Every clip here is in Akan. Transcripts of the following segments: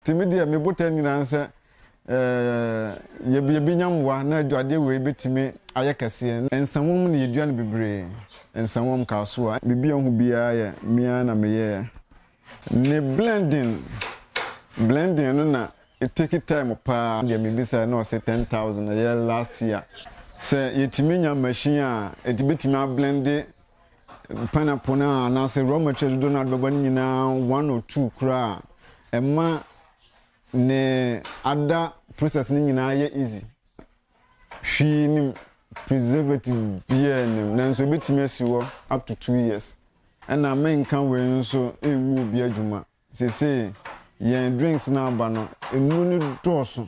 Nti me deɛ me botae nyinaa ne sɛ yɛbi yɛbɛnya mmoa na adwadeɛ wei bɛtumi ayɛ kɛseɛ. Nsawam na yɛdua no bebree, nsawam, kasoa. Biribi a wohu biara yɛ me ara na meyɛɛ ne blending, blending no na ɛteki time paa. Deɛ mebisaeɛ na ɔse ten thousand, ɛyɛ last year. Sɛ yɛtumi nya machine a ɛtumi bɛtumi ablende. Mpɛn apon a anaasɛ raw material dodow no a ɔde bɛba no nyinaa one or two koraa a, ɛma ne ada process no nyinaa yɛ easy. Hwee nim preservative biara nim nanso ebetumi asi hɔ up to two years. Ɛna menka wei nso ngu obi adwuma. Seesei yɛn drinks no aba no, nnuro no dɔɔso.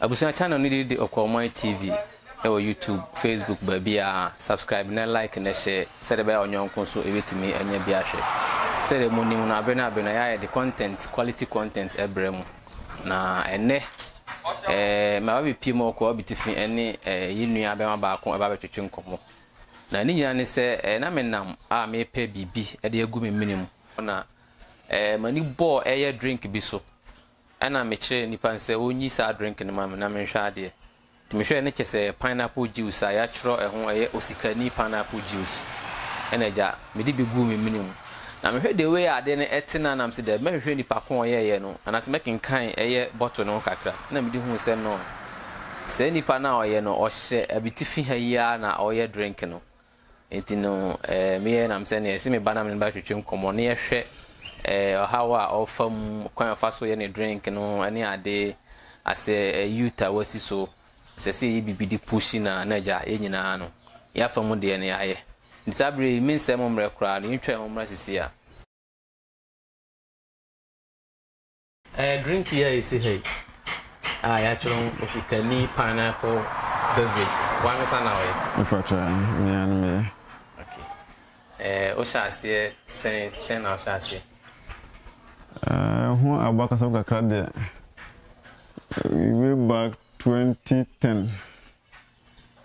Abusua channel no din de Okwawman TV ɛwɔ YouTube, Facebook baabiaa, subscribe na like na share sɛdeɛ ɛbɛyɛ a ɔnyɔnko nso ɛbɛtumi anya bi ahwɛ. Sɛdeɛ mo nim no abere ne abere no ɛyɛ a yɛde content, quality content ɛbrɛ mo na ɛnɛ ɛɛ maba bɛpie mu Okwawa Bitifi ɛne ɛɛ yɛ nua bɛma baako ɛba bɛtwetwe nkɔmmɔ na ne nyinaa ne sɛ ɛɛ na me nam a mepɛ biribi ɛde agu me mene mu na ɛɛ m'ani bɔɔ ɛyɛ drink bi so Ɛna me kyerɛɛ nipa no sɛ ɔnyi saa drink no ma me na menhwɛ adeɛ. Nti me hwɛɛ no kyɛ sɛ ɛyɛ pineapple juice a yatwerɛ ɛho ɛyɛ osikani pineapple juice. Ɛna agya me de bi guu me mene mu. Na me hwɛ the way a adeɛ no ɛte na na me se daabi mɛ hwehwɛ nipa ko a ɔyɛɛyɛ no anaase mɛ kenkan ɛyɛ bottle no ho kakra. Ɛna me de huu sɛ nɔɔ saa nipa no a ɔyɛ no ɔhyɛ abitifi ha yi ara na ɔyɛ drink no. Enti no, eh, meyɛ nam sɛ nea ɛsi me ba na me ne no bɛtwetwe nkɔmmɔ na yɛhwɛ eh, ɔhaw a ɔfa mu, kwan a ɔfa so yɛ ne drink no ne ade, asɛ eh, youth a wasi so, ɛsɛ sɛ yɛyɛ biribi de pushi na na agya yɛn nyinaa no, yɛafa mu deɛ no yɛayɛ. Nti saa berɛ yi, mensɛe mo mmerɛ koraa no, yɛntwa ho mmra sisi a. Ɛyɛ drink yi a ɛsi ha yi a yɛatwerɛ ho Osikani Pineapple Beverage, w'ankasa na woyɛ? Mepakyɛ, me ara ne meyɛ. Ok. Eh, wohyɛ aseɛ sɛn, sɛn na wohyɛ aseɛ? Eh, ho abakɔsɛm kakra deɛ, way back 2010.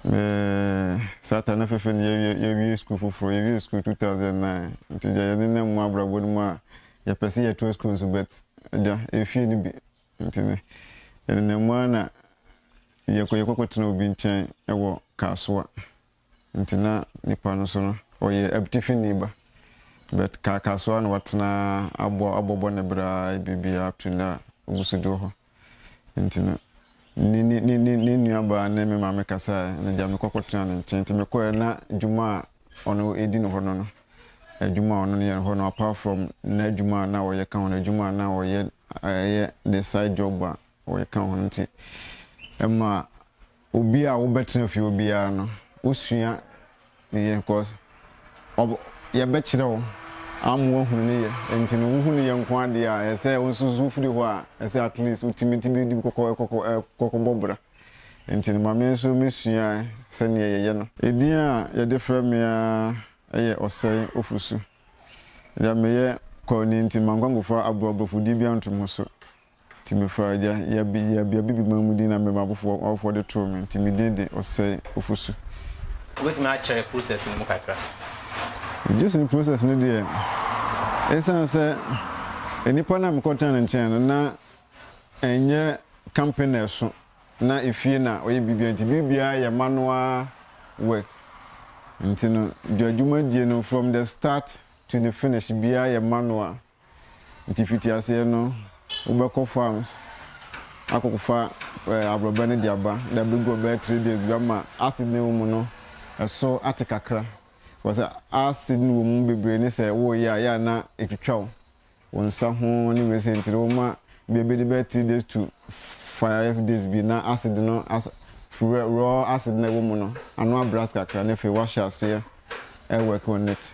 Eeii Satan ne fefe ne yɛwie yɛwie school foforɔ yɛwie school 2009 nti deɛ yɛne ne mu abrabɔ no mu a yɛpɛ sɛ yɛtɔ school nso but agya efie no bi nti ne yɛne ne mu a na yɛkɔ yɛkɔkɔ tena obi nkyɛn wɔ kaasoa nti na nipa no so no ɔyɛ abtifi ni ba but kaa kaasoa na watena abɔ abɔbɔ ne bra biribiara up to na oguso di wɔ hɔ. Nti no, ne, ne, ne, ne, ne nuabaa ne me maame kasaeɛ, na gyaa me kɔ kɔtenaa ne nkyɛn. Nti mekɔeɛ na dwuma a ɔno ɛdi no hɔ no no, adwuma a ɔno no yɛ no hɔ no, apart from n'adwuma a na ɔyɛ ka ho no, adwuma a na ɔyɛ, ɛyɛ ne side job a ɔyɛ ka ho no nti, ɛmaa. Obi a wobɛtena fie obiara no wosua ne yɛ cause ɔb yɛbɛkyerɛ wo ama woahunu ne yɛ nti no wohu ne yɛ nko ara deɛ a ɛsɛ wo nso so wofiri hɔ a ɛsɛ at least wotumi tumi di kɔkɔ ɛkɔkɔ ɛkɔkɔ bɔ bra nti no ma me nso me sua sɛdeɛ yɛyɛ no. Edin a yɛde frɛ me ara yɛ Ɔsɛe Ofosu. Deɛ meyɛ kɔɔ ni nti mankɔ ankɔfa aborɔbrofodie biara anto me ho so Nti mefaa gya yabea bi a Bibima mu din na me m'awofoɔ de too me, nti me din de Ɔsɛe Ofosu. Wobɛtumi akyerɛ process no mu kakra? Gyesene process no deɛ, ɛsiane sɛ nnipa no a mekɔ tenaa ne nkyɛn no na ɛnyɛ company na ɛso na efie na ɔyɛ biribiara nti biribiara yɛ manual work nti no dwadwumadie no from the start to the finish biara yɛ manual. Nti fiti aseɛ no wobɛkɔ farms akɔfa abrɔbɛ no de aba na bɛgu hɔ bɛyɛ three days bi ama acid no a ɛwɔ mu no ɛso ate kakra because acid no wɔ mu bebree ne sɛ woyɛ a yɛ a na ɛtwitwa wo wo nsa ho ne wei sɛ nti no woma bia bɛdi bɛyɛ three days to five days bi na acid no as raw acid no a ɛwɔ mu no ano abrɛ ase kakra na afei wahyɛ aseɛ ɛwɔ ɛkɔ on it.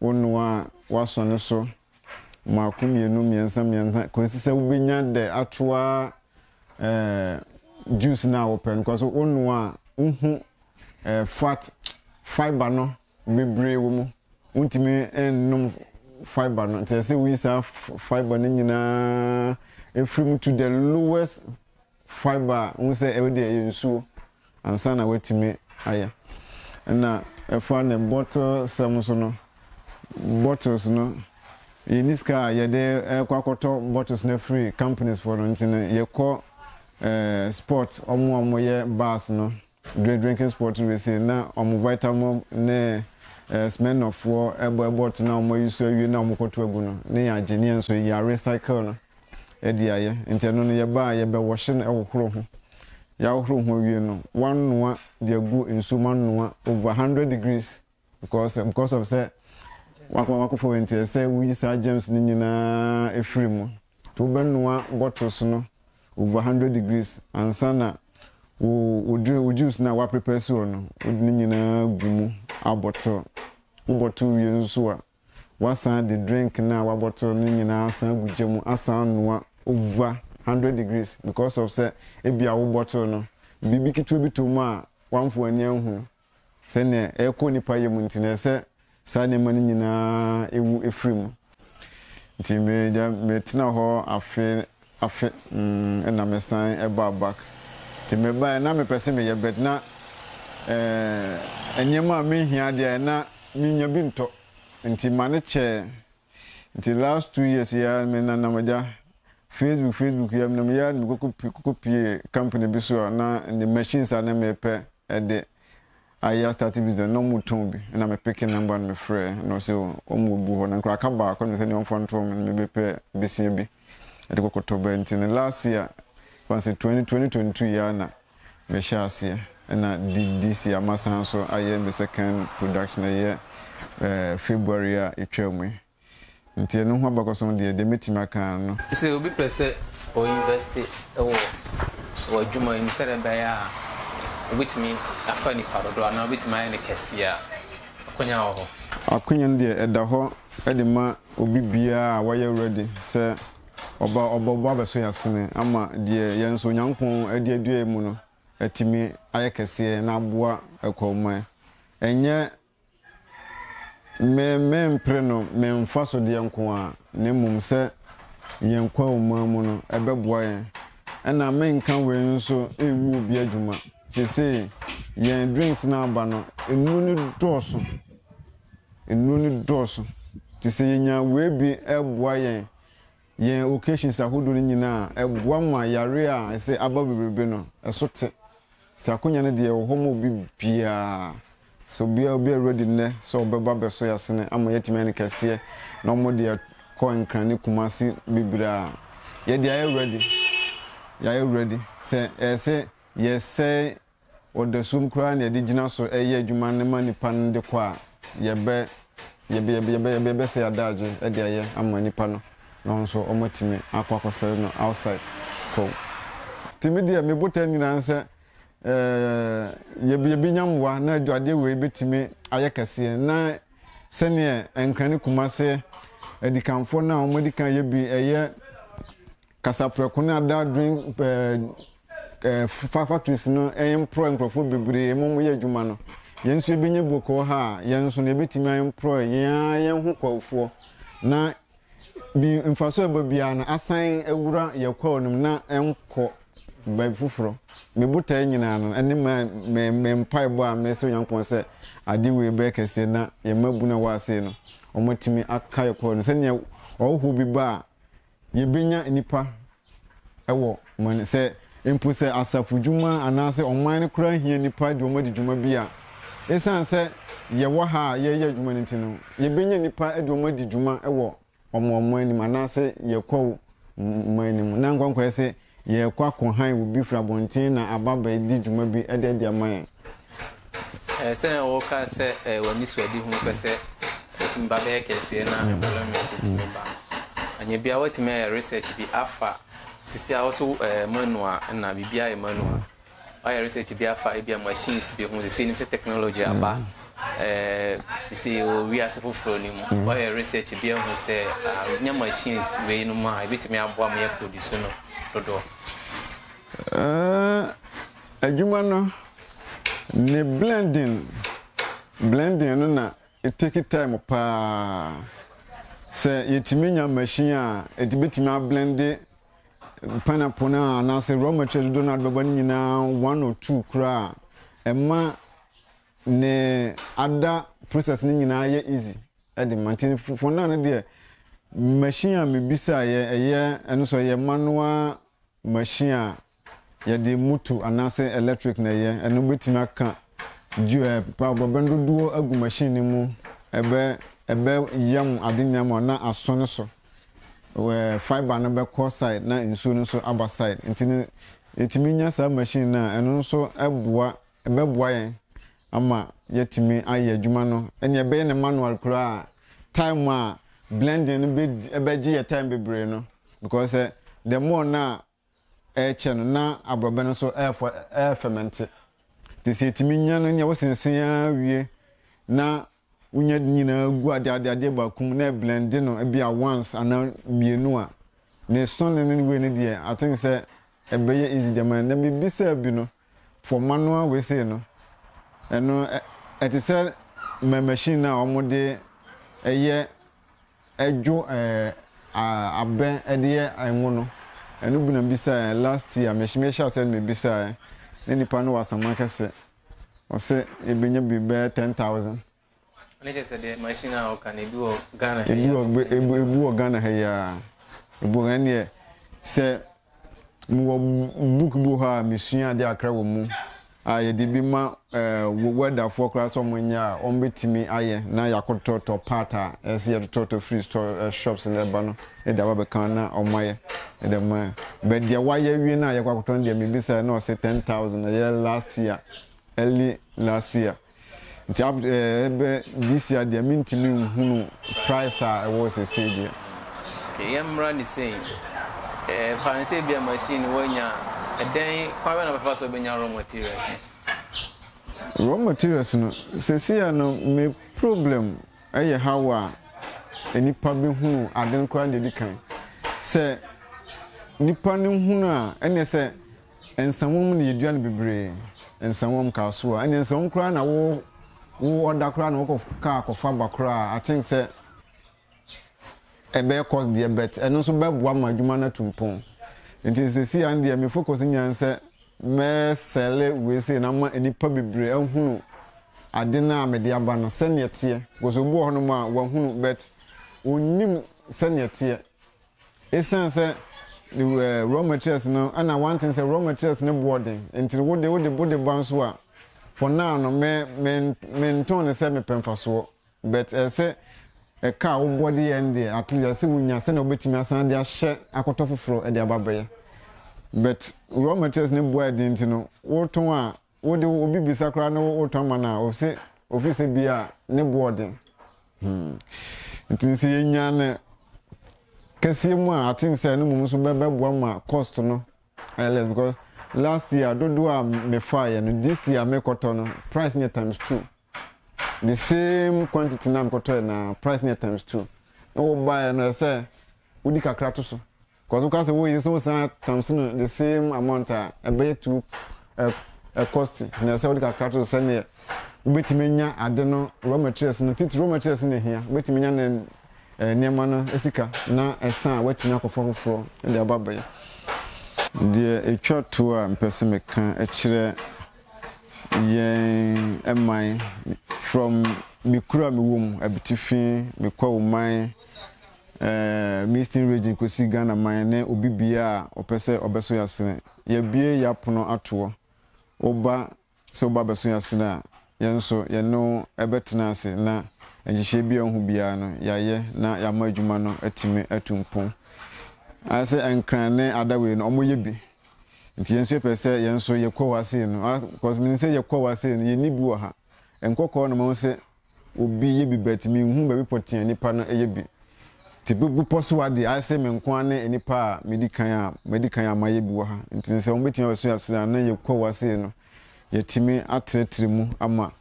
Wo noa a woasɔ no so mmaako mmienu mmiɛnsa mmiɛnsa kɔsi sɛ wobɛnya dɛ atoa eh, juice no a wopɛ no kɔ so wo noa a wohu eh, fat fiber no bebree wɔ mu wontumi nnom fiber no nti ɛsɛ woyi saa fiber no nyinaa ɛfiri mu to the lowest Fibre a wohu sɛ ɛwɔ deɛ ɛyɛ nsuo ansa na woatumi ayɛ. Ɛna ɛfa ne bottle sɛm nso no, bottles no yɛnni sika a yɛde kɔ akɔtɔ bottles no afiri companies foɔ no nti no yɛkɔ eh, spot ɔmo a ɔmo yɛ bars no. Drink Drinking Sport no se na wɔn Vitalmom ne Smirnoff foɔ bɔ ɛbɔt no a wɔn ayi so awie no a wɔn kɔto agu no ne yɛn agye ne yɛn nso yɛ recycle no de ayɛ nti ɛno no yɛba a yɛbɛ wɔhye no ɛwɔ horo ho yɛahohoro ho awie no wɔanoa de agu nsuo mu anoa over 100 degrees Because because of sɛ wakɔ wakɔfa wei nti ɛsɛ woyi saa germs no nyinaa ɛfiri mu nti wobɛnoa bottles no over hundred degrees ansa na wo wo drink wo juice no a woaprepare si hɔ no wode ne nyinaa gu mu abɔtol wobɔtol wie no nso a wasan de drink no a wabɔtol no nyinaa asan gu gya mu asan anoa over hundred degrees because of sɛ ebi a wobɔtol no biribi ketewa bi to mu a wamfo ani anhu no Sɛnea ɛrekɔ nnipa yɛ mu nti na ɛsɛ saa nneɛma no nyinaa wu firi mu. Nti megya metena hɔ afe afe na mesan baa back. Nti mebaeɛ na mepɛ sɛ meyɛ but na nneɛma a mehia deɛ na menya bi ntɔ nti ma no kyɛɛ. Nti last two years yi ara me nanam agya Facebook Facebook yi ara menam yi ara na mekɔkɔ pi kɔkɔ pie company bi so a na ne machines a na mepɛ ɛde ayɛ astarte business na ɔmo tɔn bi na me peke number no mefrɛ na ɔsɛ ɔmo gu hɔ na nkora aka baako na sɛ nea ɔmfa ntoɔ me na mebɛpɛ besia bi. Ɛde kɔ kɔtɔbɛ nti no last year fan sɛ twenty twenty twenty two yi ara na me hyɛ aseɛ ɛna di this year masan nso ayɛ me second production ɛyɛ eh, February a etwa mu yi nti ɛno ho abakɔsɛm deɛ deɛ mɛtumi aka ara no. Sɛ obi pɛ sɛ ɔ invest wɔ w'adwuma yi mu sɛdeɛ ɛbɛyɛ a obɛtumi afa nipa dodoɔ anaa obɛtumi ayɛ no kɛseɛ a, akwanya wɔ hɔ? Akwanya no deɛ ɛda hɔ de ma. Obi biara a wayɛ ready sɛ ɔba ɔbɔbɔ abɛso yasene ama deɛ yɛn nso Onyankopɔn adi adua yɛn mu no atumi ayɛ kɛseɛ na aboa Akwahoman. Ɛnyɛ me me mpere no me mfa so deɛ nko ara na mmom sɛ yɛn Kwahoman mu no ɛbɛboa yɛn. Ɛna me nka wei nso ngu obi adwuma. Seesei yɛn drinks no aba no nnuro no dɔɔso. Nnuro no dɔɔso nti sɛ yɛnya wei bi ɛboa yɛn yɛn occasions ahodoɔ no nyinaa a, ɛboa ma yareɛ a ɛsɛ aba bebrebe no ɛso te. Nti akonya no deɛ ɛwɔ hɔ ma obi biara. So obiara obiara ready nnɛ sɛ ɔbɛba abɛso yɛasene ama yɛatumi ayɛ no kɛseɛ na wɔde akɔ Nkran ne Kumasi bebree a, yɛdeɛ yɛayɛ ready. Yɛayɛ ready. Sɛ ɛyɛ sɛ yɛsɛe Ɔdasum koraa na yɛde gyina so yɛ adwuma no ma nnipa no de kɔ a, yɛbɛ, yɛbɛ, yɛbɛ, yɛbɛ, yɛbɛ, yɛbɛsɛe adagye de ayɛ ama nnipa no na wɔn nso wɔatumi akɔ akɔsɛe no outside hɔ. Nti me deɛ, me botae nyinaa ne sɛ eh, yɛbɛ, yɛbɛnya mmoa na adwadeɛ wei bɛtumi ayɛ kɛseɛ na sɛdeɛ Nkran ne Kumase adikanfoɔ no a wɔadi kan yɛ bi, ɛyɛ Kasaprɛko ne adadwen pɛɛ factories no ɛmprɔɛ nkurɔfoɔ bebree ma wɔyɛ adwuma no. Yɛn nso yɛbɛnya bɔkɔɔ ha a, yɛn nso no yɛbɛtumi aɛmprɔɛ yɛn ara yɛn ho kwaofoɔ na bi mfasoɔ a ɛba biara no asan awura yɛn kwaoo no mu na ɛnkɔ baabi foforɔ. Me botaeɛ nyinaa no ɛne ma me me mpaebɔ a mesrɛ Onyankopɔn sɛ ade wei bɛyɛ kɛseɛ na yɛn mmabunu a wɔwɔ ase no wɔatumi aka yɛn kwaoo no sɛdeɛ ɔhɔhoɔ bi ba a Yebenya nnipa wɔ man, sɛ mpo sɛ asafo dwuma anaasɛ ɔman no koraa hia nnipa de wɔn adi dwuma bi a, esiane sɛ yɛwɔ ha a yɛreyɛ adwuma no nti no, yebenya nnipa de wɔn adi dwuma wɔ wɔn ɔman no mu anaasɛ yɛn kwaw man no mu. Ná Nkonkɔɛ se, Yɛrekɔ akɔhan obi firi abɔnten na aba bɛdi dwuma bi de adi ama yɛn. Sɛnea wɔka sɛ w'anisoadehu no pɛ sɛ ɛtumi ba bɛyɛ kɛseɛ na employment tumi ba no, ɛnyɛ bi a woatumi ayɛ research bi afa sisi a wo so manual na biribiara yɛ manual. Wayɛ research bi afa ebia machines bi ho, sesei nim sɛ technology aba sesei wɔ wiase foforɔ no mu. Wayɛ research bi ahu sɛ nya machines wei no mu a, ebɛtumi aboa ma yɛ produce no dodoɔ. Adwuma no, ne blending, blending no na etake time paa. Sɛ yɛtumi nya machine a, ɛtumi bɛtumi ablende Pineapple no a anaasɛ raw material dodoɔ no a bɛbɔ no nyinaa one or two koraa a, ɛma ne ada process no nyinaa yɛ easy ɛde ma nti fondan no deɛ machine a mebisaeɛ ɛyɛ ɛno so ɛyɛ manual machine a yɛde moto anaasɛ electric na ɛyɛ ɛno bɛtumi aka bɔbɛn dodoɔ agu machine no mu ɛbɛ ɛbɛ yam ade nyinaa ma na aso no so where fibre no bɛkɔ side na nsuo no nso aba side nti no yɛtumi nya saa machine no a ɛno nso boa ɛbɛboa yɛn ama yɛtumi ayɛ adwuma no ɛnea ɛbɛyɛ no manual koraa time a blending no bɛdi ɛbɛgye yɛ time bebree no because the more no a ɛrekyɛ no na aborɔbɛ no nso refɔ refɛmɛnte. Nti sɛ yɛtumi nya no nea wosensen ara wie na wonya ne nyinaa gu ade ade adeɛ baako mu na ɛblɛnde no ebi a once anaa mmienu a, ne sɔne ne ne wei no deɛ I think sɛ ɛbɛyɛ easy de ama yɛn. Na biribi sɛ bi no, Fɔm manoa wei sei no, ɛno ɛte sɛ ma machine no a wɔde yɛ dwo abɛ de yɛ ngo no. Ɛno bi na mebisaeɛ last year, me mehyɛ aseɛ no mebisaeɛ, na nipa no wɔ asɛm akɛse, ɔse yɛbɛnya bi bɛyɛ ten thousand. Ne kyɛ sɛ deɛ machine a ɔka no ebi wɔ Ghana ha yi a wɔtumi de ma. Ebi wɔ Ghana ha yi a, ebi wɔ Ghana deɛ sɛ mewɔ book bi wɔ hɔ a mesua ade akra wɔ mu a yɛde bi ma ɛɛ wɛdafoɔ koraa sɛ wɔn nyɛ a wɔn bɛtumi ayɛ na yɛakɔtɔtɔ part a ɛsɛ yɛtotɔtɔ free store eh, shops na ɛba no ɛde aba bɛka na wɔn ayɛ ɛde ma yɛ bɛ deɛ wayɛ wie no a yɛkɔ akɔtɔ no deɛ mebisa na ɔsɛ ten thousand ɛyɛ last year early last year Nti up to ɛbɛ this year deɛ mentumi nhunu price a ɛwɔ sesei deɛ. Okay yɛmmra ne sei. Eh, fa no sɛ ebia machine no woanya a, ɛdɛn kwan bɛn na wobɛfa so wobɛnya raw materials no? Raw materials no, seesei a no me problem yɛ how a nnipa bɛhunu ade no koraa na ɛdi kan. Sɛ nnipa no hunu a, ɛneɛ sɛ Nsawam na yedua no bebree. Nsawam kaa so a, ɛnneɛ nsawam koraa na wo wo ɔda koraa na wokɔ kaa kɔfa ba koraa a, I think sɛ ɛbɛyɛ cost deɛ but ɛno nso bɛboa ma adwuma no atu mpɔn. Nti seesei ara no deɛ me focus nyinaa ne sɛ mɛsɛle wei sei na ama nnipa bebree ahunu ade no a mede aba no sɛdeɛ ɛteɛ because obi wɔ hɔnom a wahunu but ɔnnim sɛdeɛ ɛteɛ Esiane sɛ raw materials no na wanten sɛ raw materials no boɔ den nti no, wode wode wode ba nso a, for now no me me mentɔn no sɛ mepɛ mfasoɔ but ɛyɛ sɛ ɛka a wobɔ de yɛ no deɛ at least ɛyɛ sɛ wonya sɛnea wobɛtumi asan de ahyɛ akɔtɔ foforɔ de aba abɛyɛ but raw materials no boɔ a ɛyɛ den nti no wotɔn a, Wo de obi bisa koraa ne wo tɔn ma no a ose ofi sɛ bia ne bo ɔden hmm nti sɛ yɛ nya no kɛseɛ mu a I think sɛ ɛno mmom nso bɛ bɛ boa ma cost no ayɛ less because last year dodoɔ a me fa yɛ no this year me kɔtɔ no price no yɛ times two the same quantity na me kɔtɔ yɛ na price no yɛ times two na wo ba yɛ no ɛsɛ wodi kakra to so. Kɔ so ka sɛ woyi so saa thumbs no the same amount a ɛbɛyɛ two ɛ cost na ɛsɛ wode kakra to so sɛdeɛ wobɛtumi anya ade no raw materials no titi raw materials no hia wobɛtumi anya ne nneɛma no sika na ɛsan a woatumi akɔfa foforɔ de aba bɛyɛ deɛ ɛtwa to a mpɛ sɛ meka kyerɛ yɛn man from me kura me wɔ mu abitifi mekɔ wo man Eastern Region kɔsi Ghana man ne obi biaa a ɔpɛ sɛ ɔbɛso yasene. Yabue yapono atoɔ. Woba sɛ woba abɛso yasene a, yɛn nso yɛne wo bɛtena ase na nhyehyɛɛ biaa wohu biaa no yayɛ na yama adwuma no atumi atu mpon. Ayɛ sɛ Nkran ne Adawei no ɔmo yɛ bi. Nti yɛn nso yɛpɛ sɛ yɛn nso yɛkɔ hɔ asei no. Cos menim sɛ yɛkɔ hɔ asei no yɛnni bi wɔ ha. Nkɔkɔɔ na mahu sɛ Obi yɛ bi but me nhu baabi pɔtee a nipa no yɛ bi. Te bepɔ so ha deɛ ayɛ sɛ me nko ara ne nnipa a medi kan a madi kan a mayɛ bi wɔ ha. Nti no sɛ wɔn bɛtumi abɛso yɛn asene a na yɛ kɔ wa sei no yɛtumi atrɛtrɛ mu ama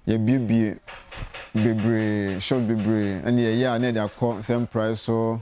yɛ bie bie bebree shops bebree ɛne yɛ yɛ a na yɛde akɔ sɛ mpraeɛ so